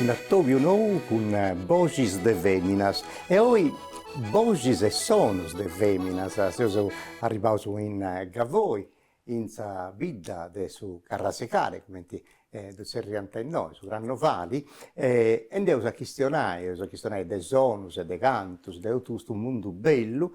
Un'atòbiu nou cun boxis de fèminas e oi boxis e sonos de fèminas seus arribaus in Gavoi in sa bidda de su carrasecare, cumenti ddu tzerriant innoi, su crannovali, e nd'eus a chistionai, eus a chistionai de sonus e de cantus, de totu custu mundu bellu,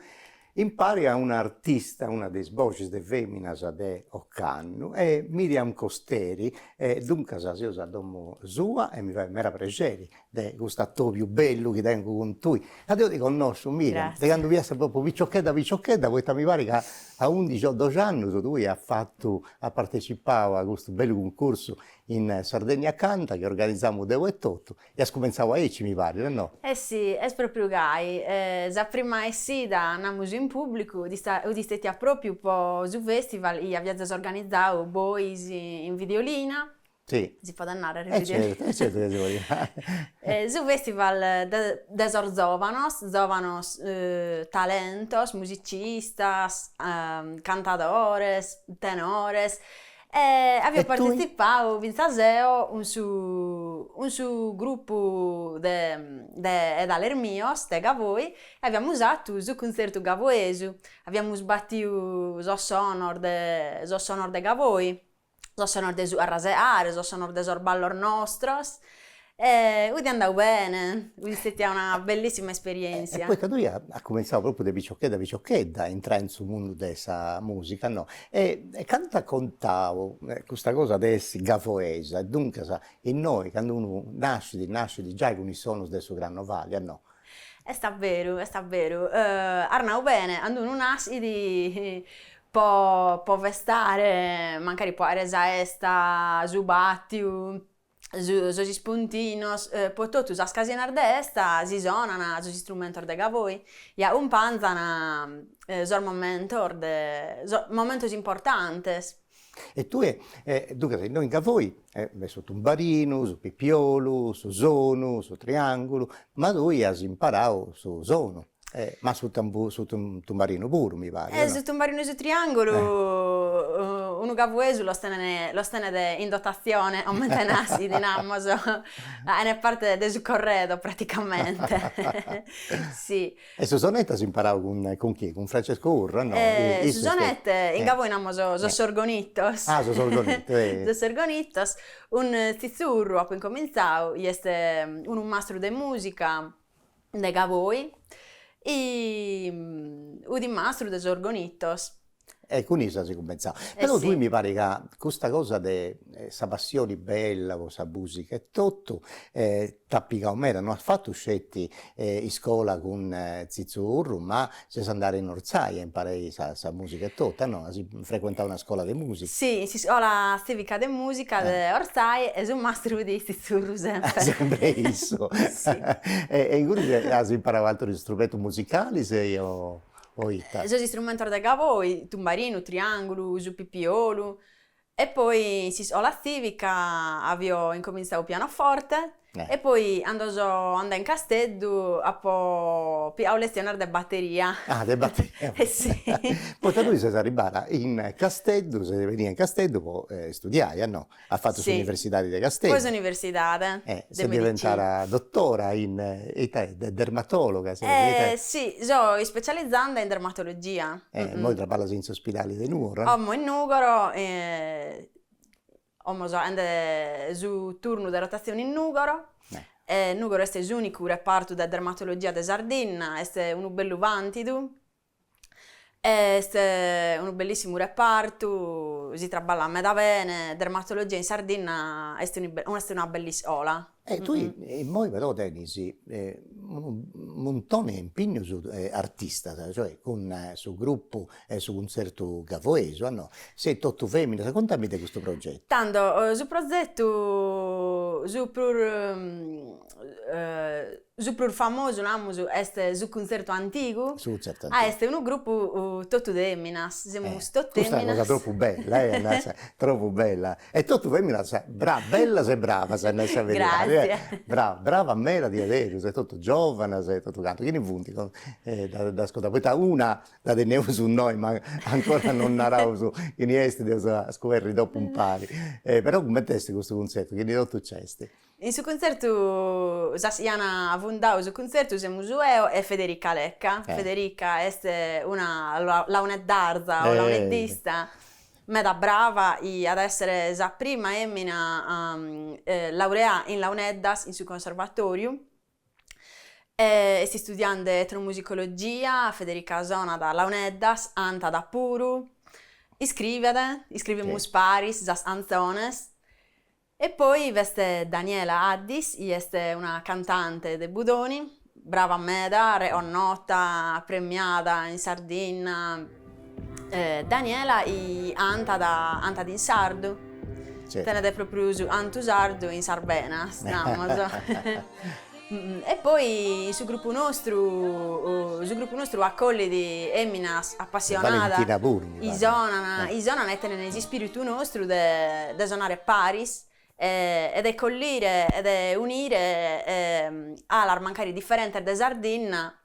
impari a una artista, una de is boxis de feminas de ocannu, Miriam Costeri, e duncas seus a domu sua e mi fait meda prexeri de custu atobiu bellu chi tengu cun tui, ca deu ti connosciu, Miriam, de candu fias propriu piciochedda piciochedda, poita mi parit ca a undixi o doxi annus tui as fatu, as partecipau a custu bellu cuncursu in Sardegna Canta chi organizamu deu etotu e as cumentzau aici mi parit, no? E si, est propriu gai, sa prima essida, namus in pubblicu, dd'est stetia propriu po su festival chi aviazes organizau bois in Videolina, si podet narrer e certu chi si podit narrer. Su festival de sos zovanos, zovanos talentos, musicistas, cantadores, tenores e avio partizipau finzas eo cun su cun su gruppu de de 'edales mios de Gavoi e aviamus 'atu su cuntzertu gavoesu, aviamus batiu sos sonos de sos sonos de Gavoi sos sonos de su arraseare, sos sonos de sos ballos nostros e est andau bene, est stetia una bellissima esperientzia. E poita tui as cumentzau propriu de piciochedda piciochedda a intrai in su mundu de sa musica no, e cantu at contau custa cosa de essi gavoesa e duncas innoi candu unu nascit nascit giai cun is sonus de su crannovali, no. Est veru est veru, as nau bene, candu unu nascit Po po festare, mancari po 'aere sa 'esta, su bàtiu, su sos ispuntinos, po totu sas ocasiones de 'esta si sonan sos istrumentos de Gavoi e acumpanzan sos momentos de sos momentos importantes. E tue duncas innoi in Gavoi su tumbarinu, su pipiolu, su sonu, su triàngulu, ma tui as imparau su sonu. Ma su su tumbarinu puru mi parit. E su tumbarinu e su triangulu unu gavoesu los tenet los tenet in dotazione comente naschit, namus, faet parte de su corredo praticamente si. E su sonettu as imparadu cun cun chie, cun Francesco Urru no? E su sonettu in Gavoi namus sos orgonitos. Ah sos orgonitos Sos orgonitos, cun Tzitzu Urru apo incomintzadu, chi est unu mastru de musica de Gavoi e fut mastru de sos orgonitos. E cun issu as cumenzau. Però tui mi parit ca custa cosa de sa passioni bella po sa musica e totu t'at pigau meda, no as fatu sceti iscola cun Tzitzu Urru ma Ses andada in Orzai a imparai sa sa musica e totu, no? As frequentau una scola de musica? Si, in s'iscola tzivica de musica de Orzai e su mastru fut Tzitzu Urru sempri. Sempri issu. Si. E e ingunis as imparau atrus istrumentus musicalis e o o ita? Sos istrumentus de Gavoi, tumbarinu, triangulu, su pipiolu, E poi in s'iscola tzìvica avio incomintzadu pianoforte e poi cando so andada in Casteddu apo pigadu leziones de bateria. Ah de bateria. E si. Poi tui ses arribbada in Casteddu, ses benida in Casteddu po istudiai a no? As fatu s'universidadi de Casteddu. Poi s'universidade de medicina. E ses diventada dotora in ita est, dermatologa? E si, so ispecializanda in dermatologia. E immoi traballas in s'ospidali de Nugoro? Como in Nugoro, como so faende su turnu de rotazione in Nugoro, Nugoro est s'unicu repartu de dermatologia de Sardinna, est unu bellu vantidu, est unu bellissimu repartu, si traballat meda bene, dermatologia in Sardinna est un'est una bell'iscola, E tui immoi però tenis unu muntone 'e impignus artistas, cioè cun su gruppu 'e su cuntzertu Gavoesu, a no, seis totu feminas, contami de custu progetu. Tando su prozetu su prus Su prus famosu, namus, est su Cuntzertu Antigu. Su Cuntzertu Antigu. Ah, est unu grupu totu de feminas, semus totu feminas. Custa est una cosa tropu bella, eh, Nasa, tropu bella. E totu feminas bellas e bravas, a nai sa beridadi, eh. Gràssias. Bravas, bravas meda diaderus, e totu giovanas e totu cantu. Chini funt, ddas contaus, poita una dda teneus innoi, ma ancora non naraus chini est, dd'eus scoberri dopu impari. Però cumenti est custu cuntzertu, chini totu nc'est? In su cuntzertu sas chi ant fundadu su cuntzertu semus eo e Federica Lecca, Federica est una launeddarza o launeddista meda brava chi at a essere sa prima femmina laureada in launeddas in su conservatoriu e est istudiende etnomusicologia, Federica sonat launeddas, cantat puru, iscrivet, iscrivimus paris sas cantzones E poi b'est Daniela Addis, chi est una cantante de Budoni, brava meda, reconnota, premiada in Sardinna, Daniela cantat cantat in sardu, tenet propriu su cantu sardu in sas benas, namus. E poi su grupu nostru, su grupu nostru acollit feminas apassionadas, chi sonan, chi sonan e tenene s'ispiritu nostru de de sonare paris e de collire e de unire alas mancari differentes de Sardinna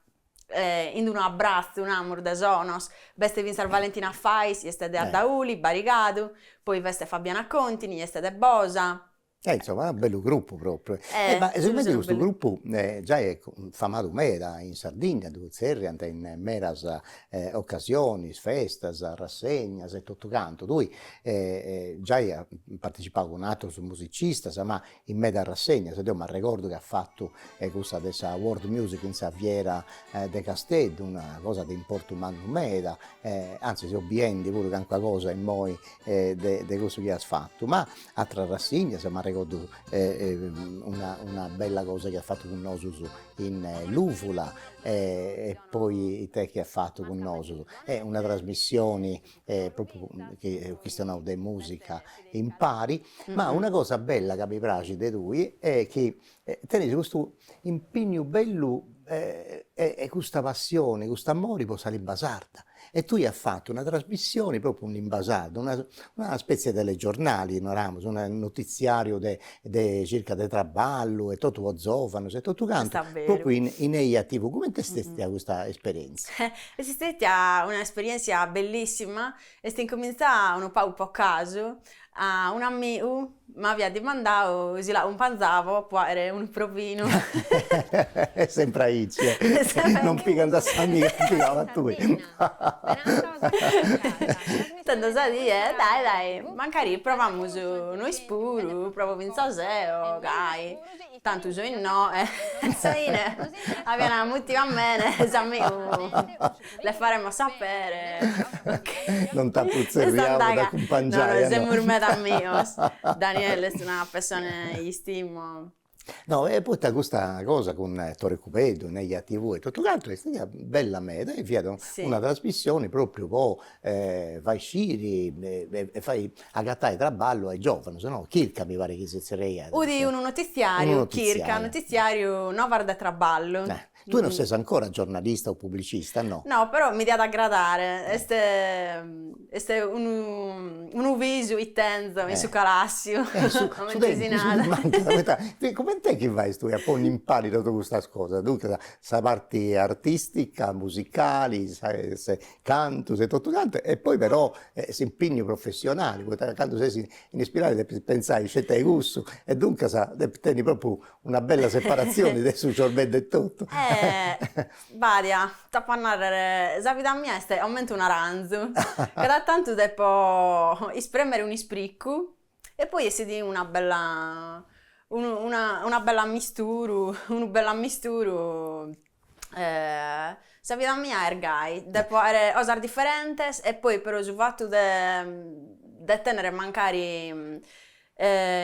in unu abbrazzu, namus, de sonos. B'est fintzas Valentina Fais, chi est de Ardauli, Barigadu, poi b'est Fabiana Contini, chi est de Bosa, E insomma unu bellu gruppu propriu e ma sigomente chi custu gruppu già est famadu meda in Sardigna ddu zerriant in medas occasiones, festas, rassegnas e totu cantu, tui già as partecipadu cun ateros musicistas ma in medas rassegnas e deo m'arregordu chi as fatu cussa de sa World Music in sa fiera de Casteddu, una cosa de importu mannu meda e anzis seu biendi puru calincuna cosa immoi de de cussu chi as fatu, ma Atras rassignas, m'arregordu una una bella cosa chi as fatu cun nosus in Luvula e poi ite chi as fatu cun nosus, est una trasmissioni propriu chi eus chistionau de musica impari, ma una cosa bella ca mi praxit de tui est chi E tenes custu impignu bellu e e custa passione, cust'amore pro sa limba sarda e tue as fattu una trasmissione propriu in limba sarda, una una spezie 'e telegiornali naramos, unu notiziariu de de circa de traballu e totu pro zovanos e totu cantu, propriu in in eja tv, comente est stètia custa esperienzia? Est stètia un'esperienzia bellissima Est incumintzau unu pagu po casu, a un'amigu m'aviat dimandau si l'acumpanzavo po fàghere unu provinu. Est sempri aici, non pigant a s'amigu e pigant a tui. Tando sa die, dai dai, mancari provamus nois puru, provo fintzas deo, gai. Tantu so innoe e sa ine aviana mutiu a mene s'amigu le faremo sapere ok non t'apu tzerriau a dd'acumpangiai a no semus meda amigos Daniele est una pessone chi istimo. No e poita custa cosa cun Tore Cubeddu, in Eja TV e totu cantu est stetia bella meda e fiat una trasmissioni propriu po fai sciri e fai agatai traballu a is giovanos no, chirca mi parit chi si zerriàt. Udi unu notiziariu, chirca notiziariu, novas de traballu. Tue non ses ancora giornalista o publicista no? No però mi diat agradare, est est unu unu visu chi tenzo in su calassiu comente si narat. Coment'est chi fais tue a ponni in pari totu custas cosas, duncas sa parti artistica, musicali, sa cantus e totu cantu e poi però s'impignu professionali poita ca candu ses in ispidali depis pentzai sceti a cussu e duncas depis tenni propriu una bella separatzioni de su ciorbeddu e totu. Badia, t'apo a narrer, sa vida mia est comente un'aranzu, cada tantu depo ispremer un'ispriccu E poi essit una bella una bell'ammisturu unu bell'ammisturu sa vida mia est gai, depo aer cosas differentes e poi però su fattu de de tenner mancari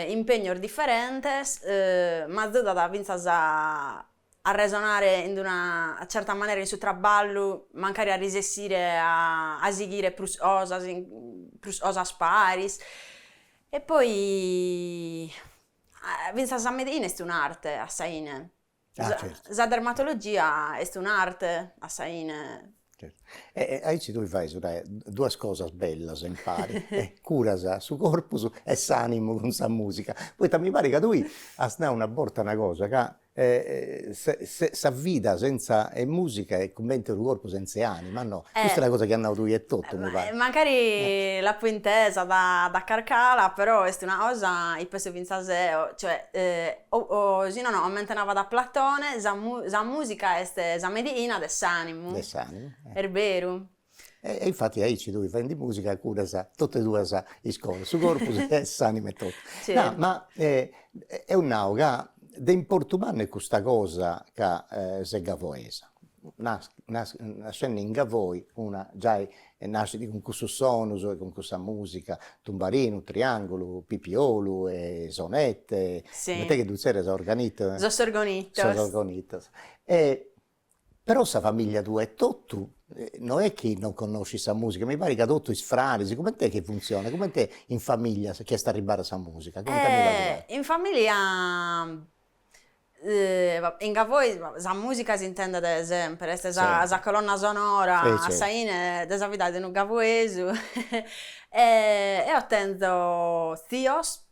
impegnos differentes m'azudat finzas a arresonare in una certa manera in su traballu mancari a risessire a sighire prus cosas prus cosas paris e poi finzas sa medina est un'arte a sa 'ine sa dermatologia est un'arte a sa 'ine e aici tui fais duas cosas bellas impari e curas su corpus e s'animu cun sa musica poita mi parit ca tui as nau una borta una cosa ca sa vida senza 'e musica est cummente unu corpu senza 'e anima, no? Custa est una cosa chi as nau tui etotu, mi parit. Mancari l'apo intesa da carc'ala, però est una cosa, chi penso fintzas eo, cioè o si nono comente navat Platone, sa musica est sa medina de s'animu. De s'animu. Est beru. E e infattis aici tui faendi musica curas totu e duas is cosas, su corpus e s'anima e totu. No ma deu nau ca de importu mannu est custa cosa ca ses gavoesa, nas- nas- nascendi in Gavoi una giai nascit cun cussus sonus e cun cussa musica, tumbarinu, triangulu, pipiolu e sonette, coment'est chi ddu zerrias organittu? Sos orgonitos. Sos orgonitos e Però sa familia tua etotu no est chi non connoscit sa musica, mi parit ca totu is fraris, comente est chi funtzionat, comente in familia chi est arribbada sa musica, contadì la tua. In familia in Gavoi sa musica s'intendet de sempre, est sa sa colonna sonora a sa 'ine de sa vida de unu gavoesu eo tenzo zios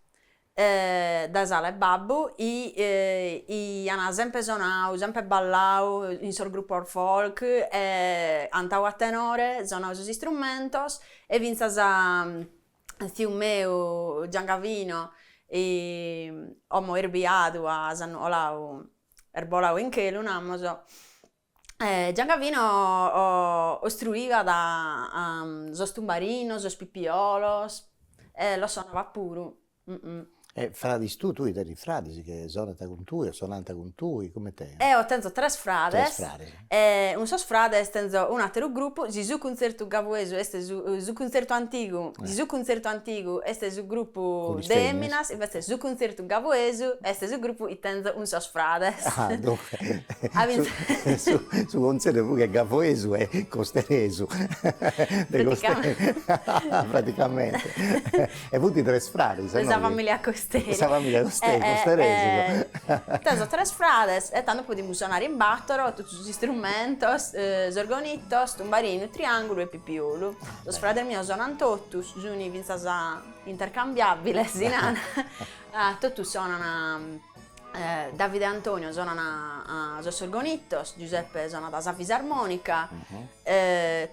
dae s'ala 'e babbu i ana sempre sonau, sempre ballau in sos gruppos folk e antau a tenore sonau sos istrumentos e finzas tziu meu Giangavino omo est biadu a s'annu 'olau est bolau in chelu namus Giangavino ostruivat sos tumbarinos, sos pipiolos e los sonavat puru e fradis tui, tui tenis fradis chi sonant cun tui o sonant cun tui, comente eo tenzo tres frades e cun sos frades tenzo un'ateru gruppu, si su cuntzertu gavoesu est su cuntzertu antigu, si su cuntzertu antigu est su gruppu de feminas invece su cuntzertu Gavoesu est su grupu i tenzo cun sos frades. Ah duncas su cuntzertu prus che gavoesu est costeresu. Praticamente. E funt tres frades. De sa familia Costeri. Sa familia Costeri, costeresus. Tenzo tres frades e tando podimus sonare in batoro totu sos istrumentos, s'orgonitos, tumbarinu, triangulu e pipiolu. Sos frades mios sonan totus, sun fintzas Intercambiabile si nana totus sonana Davide e Antonio sonana sos orgonitos Giuseppe sonat sa fisarmonica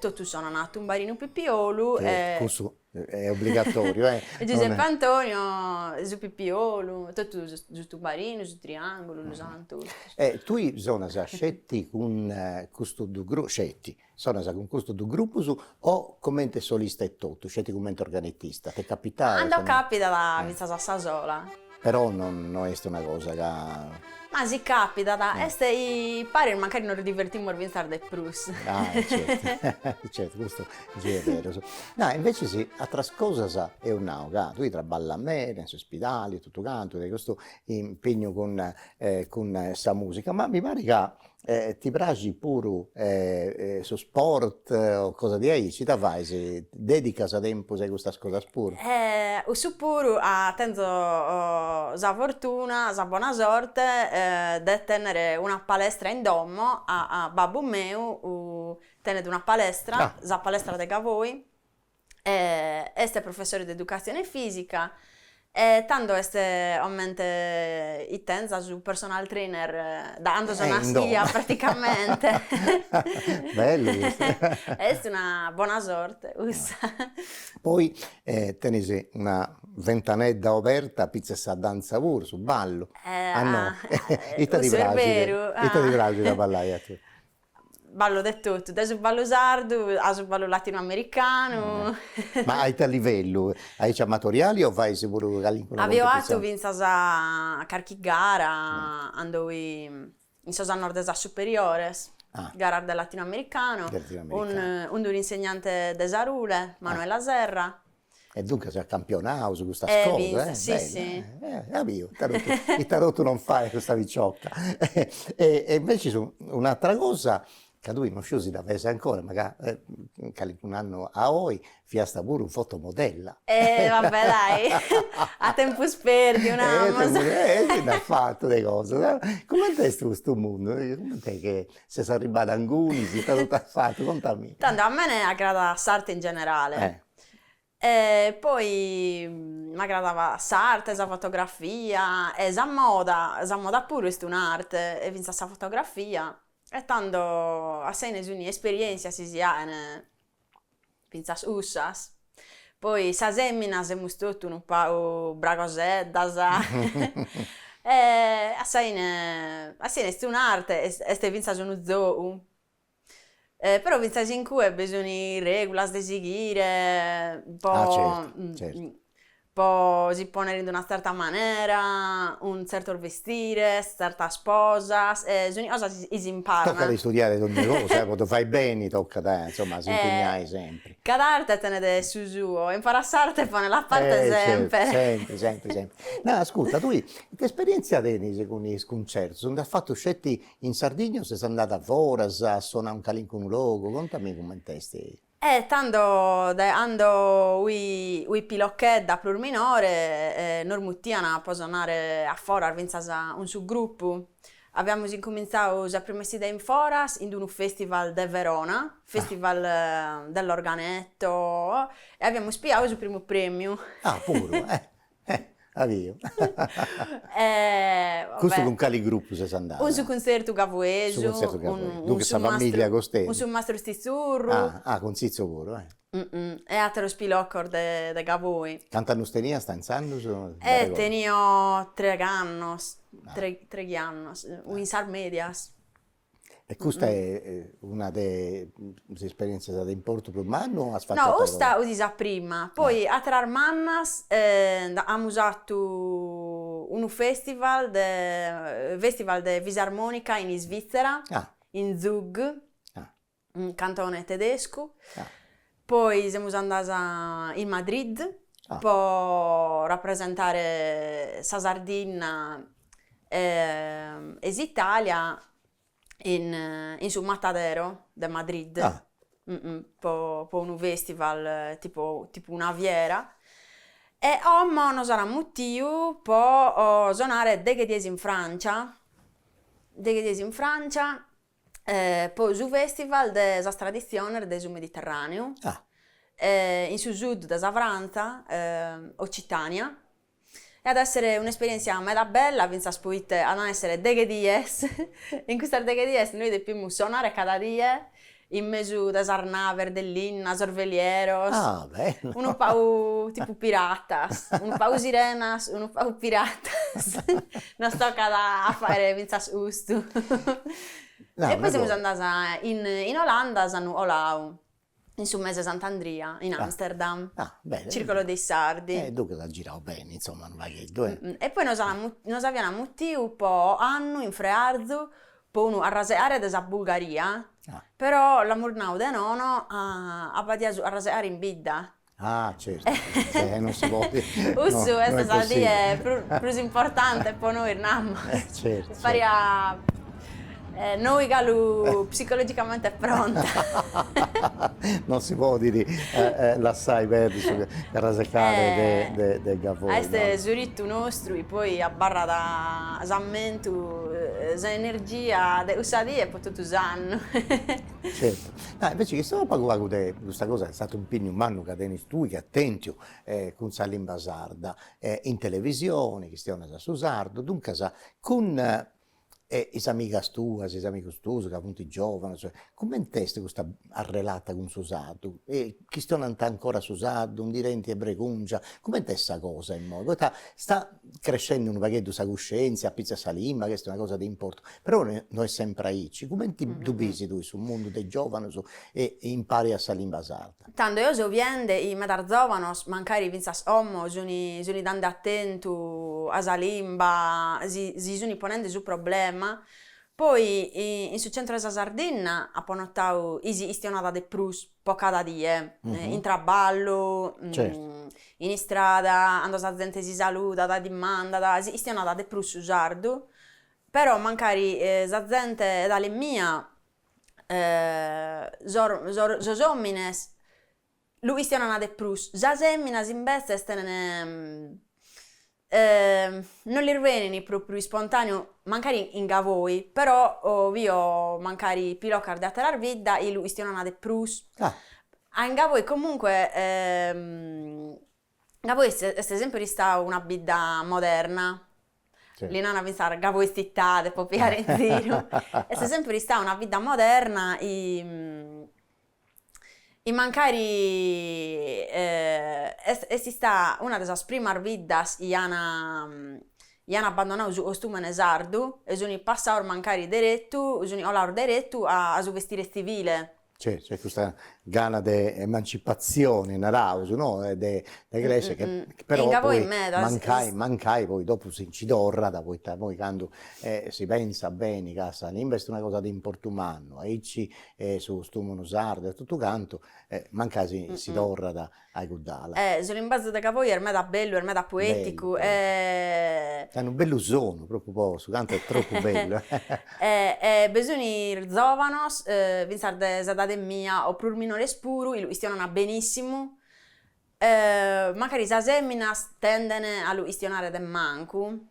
totus sonana tumbarinu pipiolu e cussu est obbligatoriu e Giuseppe Antonio su pipiolu totu su tumbarinu su triangulu lu sonant totus e tui sonas sceti cun custu du sceti Sonas cun custos duos grupos o comente solista etotu, sceti comente organetista? Ti capitat? Cando capitat fintzas a sa sola. Però no est una cosa ca. Ma si capitat, est paris mancari nos divertimus fintzas de prus. Ah e certu, certu, custu si est berus. Nai invecias atras cosas eus nau ca tui traballas meda in s'ispidali e totu cantu, e custu impegnu cun cun sa musica, ma mi parit ca E ti praxit puru su sport o cosa diaici? Ita fais? Dedicas tempus a custas cosas puru? E cussu puru tenzo sa fortuna, sa bona sorte de tennere una palestra in domo, babbu meu tenet una palestra, sa palestra de Gavoi est professore de educazione fisica e tando est comente chi tenza su personal trainer da cando so naschia praticamente est una bona sorte cussa poi tenes una ventanedda oberta finzas sa danza puru su ballu ita ti praxit ita ti praxit a ballai a tue Ballo de totu, dae su ballu sardu a su ballu latinoamericanu. Ma a ite livellu? Aici amatoriali o fais puru calincuna cumpetizioni? Avio fatu fintzas carchi gara cando fui in sos annos de sas superiores, garas de latinoamericanu, cun un'insegnante de Sarule, Manuela Serra, E duncas a campionaus custas cosas, si si, eo biu, ita totu non fait custa piciocca e e invece un'atera cosa ca tui non sciu si dda fais ancora, mancai calincun'annu a oi fiasta puru fotomodella e va bè dai a tempus perdiu naramus e si nd'as fatu de cosas, comente est custu mundu, comente che ses arribbada a ingunis, ita totu as fatu, contami. Tando a mene agradat s'arte in generale e poi m'agradava s'arte, sa fotografia e sa moda, sa moda puru est un'arte e finzas sa fotografia e tando gasi est un'esperièntzia si si ain finzas cussas, poi sas feminas semus totu unu pagu bragoseddas e gasi gasi est un'arte est finzas unu zogu Però fintzas incue bi sun regulas de sighire po po si ponere in una tzerta manera, cun tzertos vestires, tzertas posas, e sun cosas chi si imparan. Tocat istudiare dogni cosa, po ddu fai beni tocat insomma a s'impignai sempri. Cada arte tenet su suo, impara s'arte e ponela a parte semper. Sempri sempri sempri. Ma ascurta tui ite esperientzia tenis cun is cuntzertus, nd'as fatu sceti In Sardigna o ses andada a foras, a sonai in calincunu logu? Contami cument'est. E tando dae cando fui pilocchedda prus minore nos mutian, po sonare, a foras fintzas cun su grupu. Aviamus incumintzau sa prima 'essida in foras in d'unu festival de Verona, festival dell'organetto, e aviamus piau su primu premiu. Ah, puru? Eh! Aviu. E va bè. Custu cun cali gruppu ses andada? Cun su cuntzertu Gavoesu. Su cuntzertu Gavoesu, duncas sa famìllia costei. Cun su mastru Tzitzurru. Ah! Ah! Cun Tzitzu puru, eh! E aterus piloccos de de Gavoi. Cant'annus teniasta intzandus? Eh! Tenio treghi annos, treghi annos, in sas medias. E custa est una de is esperientzias de importu prus mannu o as fattu ateras? No, custa 'udit sa prima, poi ateras mannas amus fatu unu festival de festival de fisarmonica in Svitzera, in Zug in cantone tedescu, poi semus andas in Madrid po rapresentare sa Sardinna e e s'Italia in in su Matadero de Madrid po po unu festival tipo tipo una fiera e como nos an mutiu po sonare deghe dies in Francia, deghe dies in Francia po su fèstival de sas traditziones de su Mediterràneu in su sud de sa Frantza, Ocitània, e at a èssere un'esperièntzia meda bella fintzas poite ant a èssere deghe dies e in custas deghe dies nois depimus sonare cada die in mesu de sas naves de linna, sos velieros, unu pagu tipu piratas, unu pagu sirenas, unu pagu piratas Nos tocat a fàghere fintzas custu. E poi semus andas in Olanda, s'annu 'olau, in su mese 'e Sant'Andria, in Amsterdam, circolo dei sardi. E duncas as girau beni, insomma, unu pagheddu, e. E poi nos nos aian mutiu po 'o'annu in Frearzu, po unu arraseare de sa Bulgaria, però l'amus nau de nono ca b'adiat su arraseare in bidda, Ah certu, e non si podit, no, no est possibili. Cussu est sa die prus importante po nois namus. E certu. Fàghere a nois galu psicologicamente pronta. Non si podit lassai perdi su carrasecare de de de Gavoi, no? Est su ritu nostru chi poi abarrat s'ammentu, s'energia de cussa die po totu s'annu. Certu, ma invece chistionaus pagu pagu de custa cosa est statu un'impenniu mannu ca tenis tui chi as tentu cun sa limba sarda e in televisione chistionas su sardu, duncas cun e is amigas tuas, is amigus tuus ca funt giovanos, comente est custa arrelata cun su sardu? E chistionant ancora su sardu, ndi tenint bregungia, comente est sa cosa imoi, poita stat crescende unu pagheddu sa cuscientzia, apitzus a sa limba, ch'est una cosa de importu, però no est sempre aici, cumenti ddu bisi tui su mundu de giovanos e impari a sa limba sarda? Tando eo so biende chi medas zovanos, mancari fintzas 'omo, suni suni dande atentu a sa limba, si si suni ponende su problema, poi in su centro 'e sa Sardinna apo notau chi si istionada de prus, po cada die, in traballu, in istrada, cando sa zente si saludat, dimandat, istionat de prus su sardu, però mancari sa zente 'edale mia sos omines lu istionan de prus, sas feminas imbetzes tenen E non lis benit pròpriu ispontàneu mancari in Gavoi, però bio mancari pilocas de àteras biddas chi lu istionana de prus. A in Gavoi comunque Gavoi est sèmpere istau una bidda moderna, li nana fintzas Gavoi tzitade po piare in ziru, est sèmpere istau una bidda moderna e mancari est ista una de sas primas biddas chi an chi an abbandonadu su costumene sardu e sun passados mancari deretu sun 'olados deretu a su vestire tzivile. Certu, est custa gana de emancipatzione naraus no, de crescer chi però poi mancai mancai poi dopo si nci torrat poita poi candu si pensat beni ca sa limba est una cosa de importu mannu aici e su costùmunu sardu e totu cantu e mancai si si torrat a-i cudd'ala. Su limbazu de Gavoi est meda bellu, est meda poeticu est unu bellu sonu, propriu po su cantu est tropu bellu e bi sun zovanos finzas de s'edade mia o prus minores puru lu istionana benissimu e mancari sas feminas tenden a lu istionare de mancu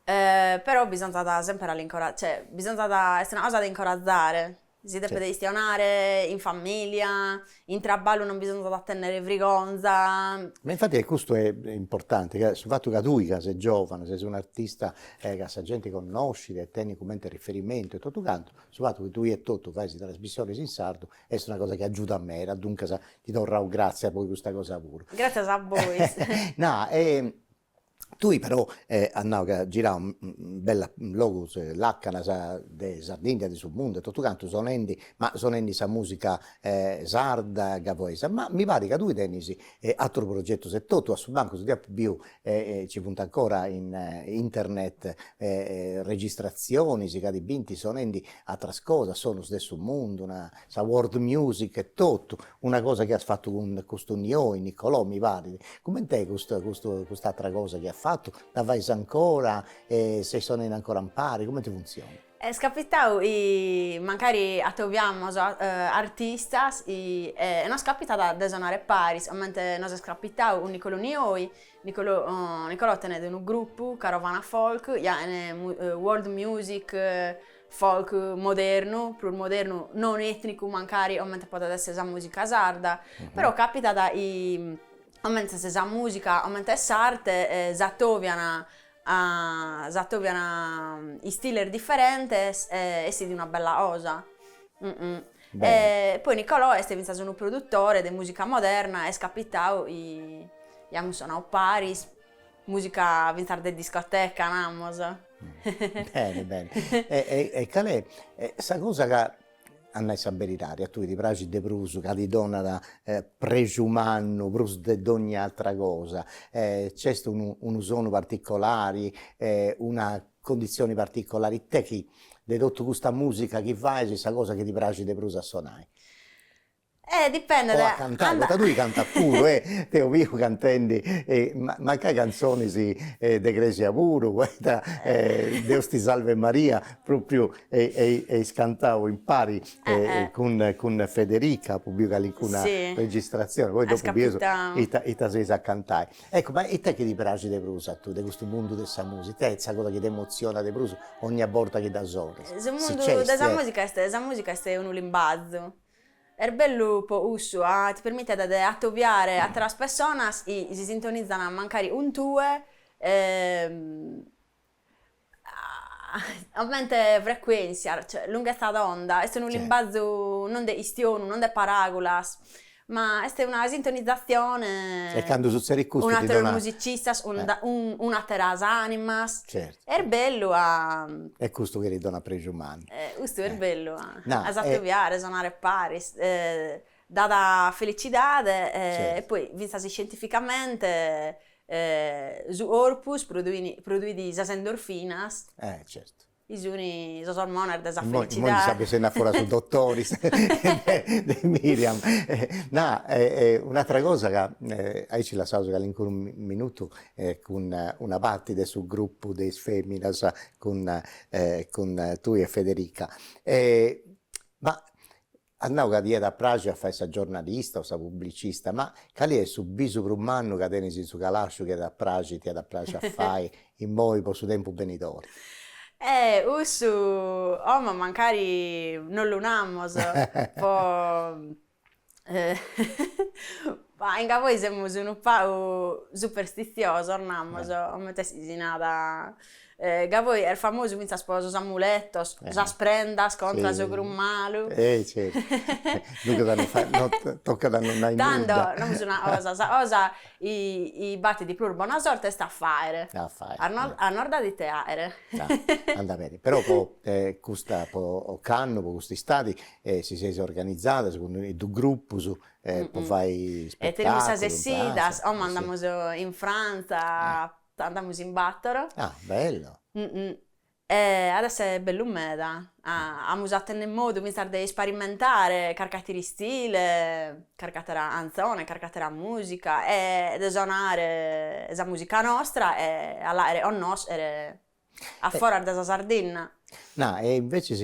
però bisonzat semper a l'incora cioè bisonzat est una cosa de incorazare si depet istionare in familia in traballu non bisonzat a tenner brigonza ma infatti e custu è importante ca su fattu ca tui ca ses giovanu ses un'artista e ca sa gente connoscit e tenit comente riferimentu e totu cantu su fattu chi tui etotu fais is trasmissiones in sardu est una cosa chi agiudat meda duncas ti torraus gratzias pro custa cosa puru. Gratzias a bois. Nara Tui però as nadu chi as giradu bellus logus lacanas de Sardigna de su mundu e totu cantu sonendi ma sonendi sa musica sarda e gavoesa, ma mi parit ca tui tenis aterus progetus e totu a su mancu si deo apo biu ci funt ancora in internet registratzionis ca ti bint sonendi ateras cosas, sonus de su mundu sa world music e totu, una cosa chi as fatu cun custu Nioi, Nicolò mi parit, coment'est custu custu cust'atra cosa chi at fatu, dda fais ancora e ses sonendi ancora impari, comente funtzionat? Est capitau chi mancari atobiamus artistas chi e nos capitat de sonare a paris, comente nos est capitau cun Nicolò Nioi, Nicolò Nicolò tenet unu grupu Carovana Folk chi at world music Folk modernu, prus modernu, non ètnicu mancari comente podet èssere sa mùsica sarda, però càpitat chi comente in sa mùsica, comente est s'arte, s'atobian s'atobian istiles diferentes e essit una bella cosa. Poi Nicolò est fintzas unu produtore de mùsica moderna, est capitadu chi amus sonadu paris Musica fintzas de discoteca namus. Bene bene e cale est sa cosa ca, a nai sa beridadi, a tui ti praxit de prus, ca ti donat prexu mannu prus de dogna atra cosa, nc'est unu unu sonu particolari, una condizioni particolari ita chi de totu custa musica chi fais sa cosa chi ti praxit de prus a sonai? Eh dipendet o a cantai poita tui cantas puru e t'eu biu cantendi mancai cantzonis de cresia puru poita deus ti salve Maria propriu eis cantau impari cun cun Federica apu biu calincuna registratzioni poi dopu bieus ita ita seis a cantai ecco ma ita est chi ti praxit de prus a tui de custu mundu de sa musica ita est sa cosa chi t'emotzionat de prus ogna borta chi dda sonas su mundu de sa musica est sa musica est unu limbazu Est bellu po cussu, ti permitet de atobiare àteras pessonas chi si sintonizan mancari cun tue comente frecuèntzia, cioè lunghezza d'onda, est unu limbazu non de chistionu, non de paràgulas, ma est una sintonizatzione. E candu sutzerit custu ti donat. Cun àteros musicistas, cun àteras ànimas. Est bellu a. E custu chi ti donat prexu mannu. E custu est bellu a. No. A s'atobiare, sonare paris, dat felicidade e poi fintzas iscientificamente su corpus produit sas endorfinas. E certu. Chi sun sos ormones de sa felicidade. Immoi ndi ses bessendi a foras su dottori Miriam. No, un'atra cosa ca aici lassaus calincunu minutu e cun una parti de su gruppu de is feminas cun cun tui e Federica e ma as nau ca ti iat a praxi a fai sa giornalista o sa publicista ma cali est su bisu prus mannu ca tenis in su calasciu chi iat a praxi ti iat a praxi a fai immoi po su tempus benidori. Eh cussu como mancari non lu namus po Bah, in Gavoi semus unu pagu superstiziosos, namus, comente si nat, Gavoi est famosu fintzas po sos amuletos, sas prendas contra s'ocru malu. Eh certu, duncas a non fai, no tocat a non nai nudda. Tando, namus una cosa, sa cosa chi batit de prus bona sorte est a faere. A faere. A no, a nos dare ite aere. Andat beni, però po custa, po candu, po cust'istadi, E si seis organizadas cun is grupus po fai spettaculu. Tenemus sas essidas, como andamus in Frantza, andamus in batoro. Ah bello. At esser bellu meda, amus a tenner modu fintzas de isparimentare carchi atteru istile, carchi attera cantzone, carchi attera musica e de sonare sa musica nostra e a l'aere connoschere a foras de sa Sardinna. Na e invecias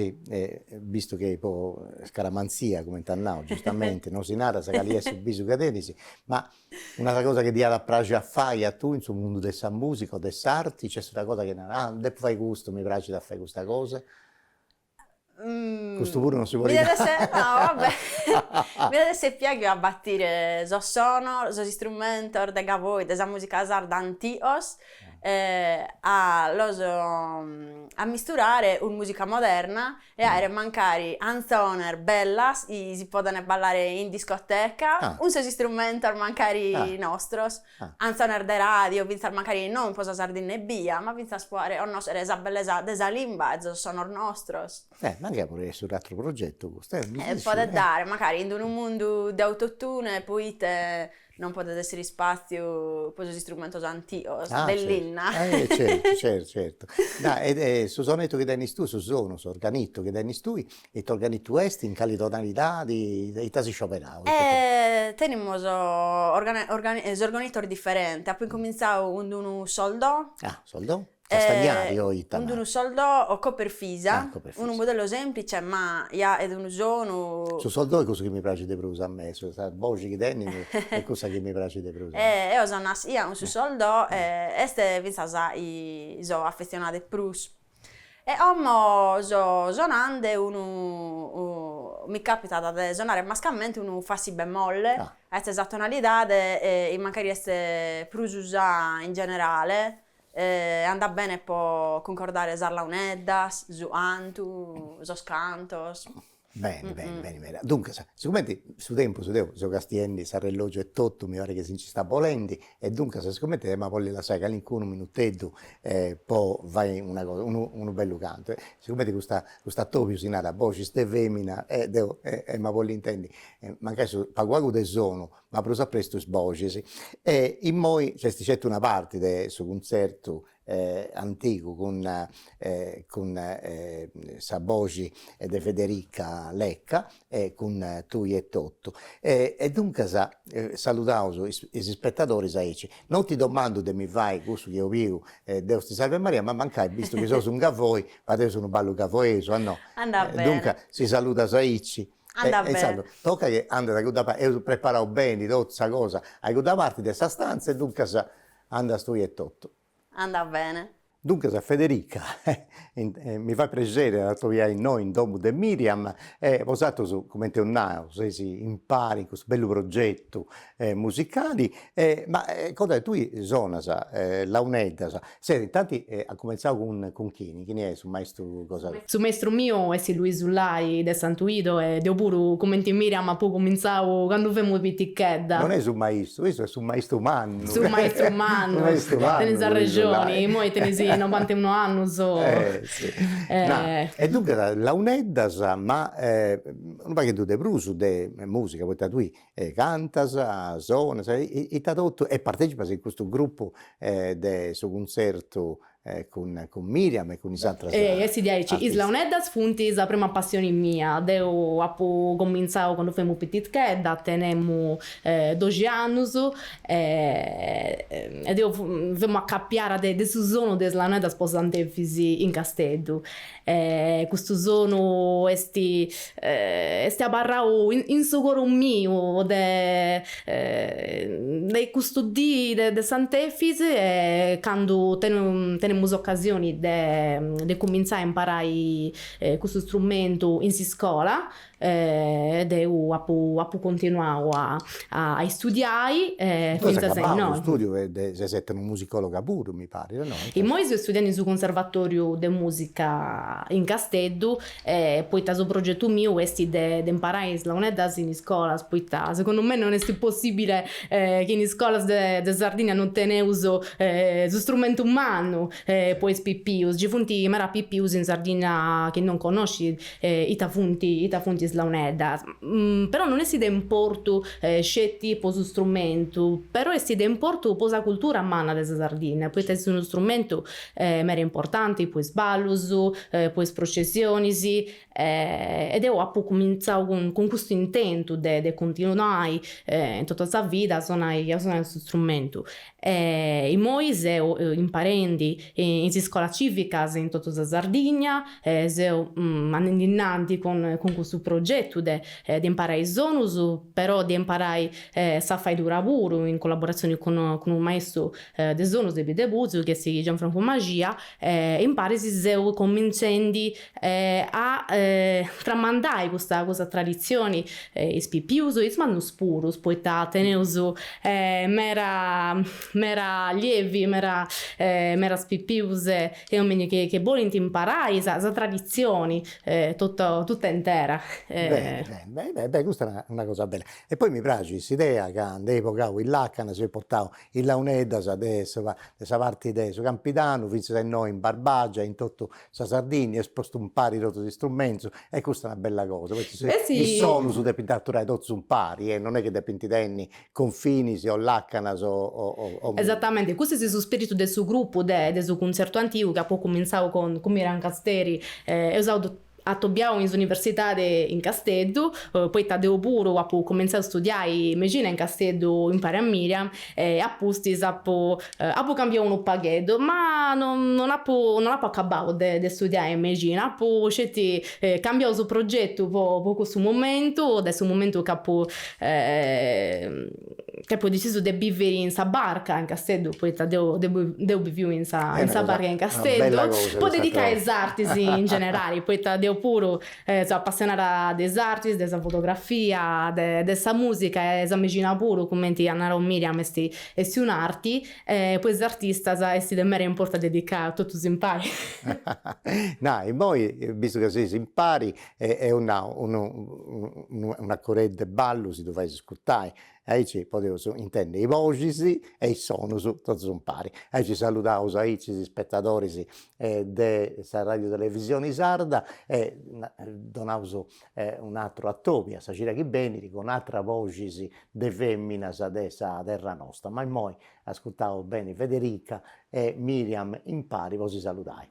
bistu chi po scaramanzia comente at nadu giustamente non si narat sa cali est su bisu chi tenis, ma un'atra cosa chi ti iat a praxi a fai a tui in su mundu de sa musica o de s'arti, nc'est una cosa chi narat, ah depu fai custu, mi praxit a fai custa cosa? Custu puru non si podit nai. No, va bè. Mi det esse piaghiu a batire sos sonos, sos istrumentos de Gavoi, de sa musica sarda antigos, a los ammisturare cun musica moderna e aere mancari antzones bellas chi si podent ballare in discoteca cun sos istrumentos mancari nostros. Antzones de ràdiu, fintzas mancari non po sa Sardinna ebbia, ma fintzas po aere connoschere sa bellesa de sa limba e sos sonos nostros. Eh, mancai podit essi un'atteru progettu custu, eh, mi dissi. Podet dare, mancari in unu mundu de autotune, poite non podet essere ispàtziu po sos istrumentos antigos de linna. Ah, certu, eh, certu, certu, certu. Dai, e su sonettu chi tenis tui, su sonu, s'organettu chi tenis tui, Ite organitu est in cali tonalidadi, ite as iscioberau? Tenimus organitos diferentes, apu incumintzau cun d'unu sos do. Ah sos do, s'astagnari o ita. Cun d'unu sol do Cooperfisa, unu modello semplice ma ja est unu sonu. Su sol do est cussu chi mi praxit de prus a mei, sa boxi chi tenit est cussa chi mi praxit de prus. Eo so nascia cun su sol do e est fintzas chi so affezionada de prus. E como so sonande unu mi capitat de sonare mascamente unu fa si bemolle, est sa tonalidade chi mancari est prus usada in generale, andat bene po cuncordare sas launeddas, su antu, sos cantos. Beni beni beni meda, duncas sigumenti su tempus deu seu castiendi s'arrellogiu e totu mi parit chi si nci stat bolendi e duncas sigumenti ia a bolli lassai calincunu minuteddu po fai una cosa unu unu bellu cantu e sigumenti custu custu atobiu si narat boxis de femina e deu e e ia a bolli intendi e mancai su pagu pagu de sonu ma prus a prestu is boxis e immoi nc'est certu una parti de su cuntzertu antigu cun cun sa boxi de Federica Lecca e cun tui e totu e e duncas saludaus is is ispettadoris aici non ti domandu de mi fai cussu chi 'ollu deu Deus ti salve Maria ma mancai bistu chi seus in Gavoi fadeus unu ballu gavoesu a no e duncas si saludas aici e insaras tocat chi andas a cudda parti eus preparau beni totu sa cosa a cudda parti de sa stanza e duncas Andas tui etotu. Andat bene. Duncas Federica, mi fait prexeri a t'atobiai innoi in domu de Miriam e bosatrus, comenti eus nau, seis impari in custu bellu progetu musicali, ma cosa, tui sonas launeddas, ses, intanti as cumentzau cun chini? Chini est su maistru tuu. Su maistru miu est Luisu Lai de Santu Idu e deu puru cumenti Miriam apu cumintzau candu femus pitichedda. Non est su maistru, issu est su maistru mannu. Su maistru mannu. Maistru mannu. Tenis arrexoni, imoi tenis novanta e unu annus. Na, e duncas launeddas ma unu pagheddu de prus de musica, poita tui cantas, sonas, ita totu e partecipas in custu gruppu de su cuntzertu E cun cun Miriam e cun is atras artistas. Ei est diaici, is launeddas funt sa prima passioni mia, deu apu comintzau candu femu pititchedda, tenemu doxi annus e e deu femu acapiara de su sonu de is launeddas po Sant'Efis in Casteddu. E custu sonu est est abarrau in su coru miu de de custa dì de Sant'Efis e candu tenemus ocasioni de cumintzai a imparai custu strumentu in s'iscola E deu apu apu continuau a a istudiai e fintzas a imoi. Ses studiosa de ses etnomusicologa puru mi parit, no? Immoi seu istudiendi in su Conservatoriu de Musica in Casteddu poita su progetu miu esti de de imparai is launeddas in iscolas poita segundu mei non esti possibile chi in iscolas de Sardigna non teneus su strumentu mannu E po is pipius, ci funt meda pipius in Sardinna chi non connoscint ita funt ita funt is launeddas. Però non est de importu sceti po su strumentu, però est de importu po sa cultura manna de sa Sardinna, poita est unu strumentu meda importanti po is ballus, po is processionis, E deu apu cumintzau cun custu intentu de de cuntinuai in totu sa vida a sonai a sonai su strumentu. E immoi seu imparendi in is iscolas civicas in totu sa Sardigna, seu andendi innanti cun cun custu progetu de de imparai is sonus, però de imparai sa faidura puru in collaboratzioni cun cun unu maistu de sonus de Biddeputzu chi est Gianfrancu Maxia e imparis seu cumintzendi a tramandai custa custa traditzioni is pipius e is mannus puru poita teneus mera mera allievi mera meras pipius e ominis chi bolint imparai sa sa traditzioni totta totta intera beni beni custa est una cosa bella e poi mi praxit s'idea ca nd'eis bogau is lacanas eis portau is launeddas de sa de sa parti de su campidanu finzas a innoi in Barbagia in totu Sa Sardìnnia eis postu impari totus is istrumentus e custa est una bella cosa, poita is sonus depint aturai totus impari e non est chi depint tenni confinis o lacanas o o. Esatamenti, custu est su spiritu de su grupu de de su cuntzertu antigu chi apu cumintzau cun cun Miriam Costeri. Eus ato atobiau in s'universidadi in Casteddu, poita deu puru apu cumintzau a studiai mexina in Casteddu impari a Miriam e apustis apu Apu cambiau unu pagheddu, ma non apu non apu acabau de de studiai in mexina, apu sceti cambiau su progetu po po cussu momentu, de su momentu ca apu ca apu decisu de bivi in sa barca in Casteddu, poita deu deu biviu in sa in sa barca in Casteddu, po dedicai a is artis in generali, poita deu puru seu apassionada de is artis, de sa fotografia, de de sa musica e sa mexina puru, cumenti at narau Miriam esti Est un'arti e po is artistas est de mera importu a dedicai a totus impari. Na, immoi, bistu ca seis impari, eo nau unu un'acoreddu 'e ballu si ddu fais iscurtai, aici podeus intendi i' boxis e is sonus totus impari. Aici saludaus aici is ispetadoris de sa Radiu Televisioni Sarda e donaus Un'atru atobiu a sa cira chi benit cun atras boxis de feminas de sa terra nosta, ma immoi ascurtaus beni Federica e Miriam impari po si saludai.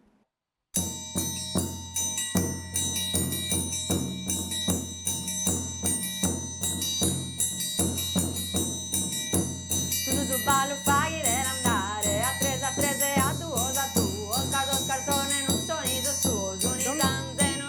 Tundu su ballu faghide l'andare a tres a tres e a duos a duos ca sos cartzones non sunt sos tuos, unu in canzenu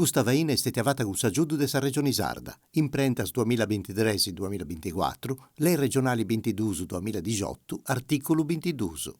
Custa faina est stètia fata cun s'agiudu de sa Regioni Sarda, imprentas duamilla bintitres-duamilla binticuatru, Lei Regionali bintiduus-duamilla dixotu, artìculu bintiduus.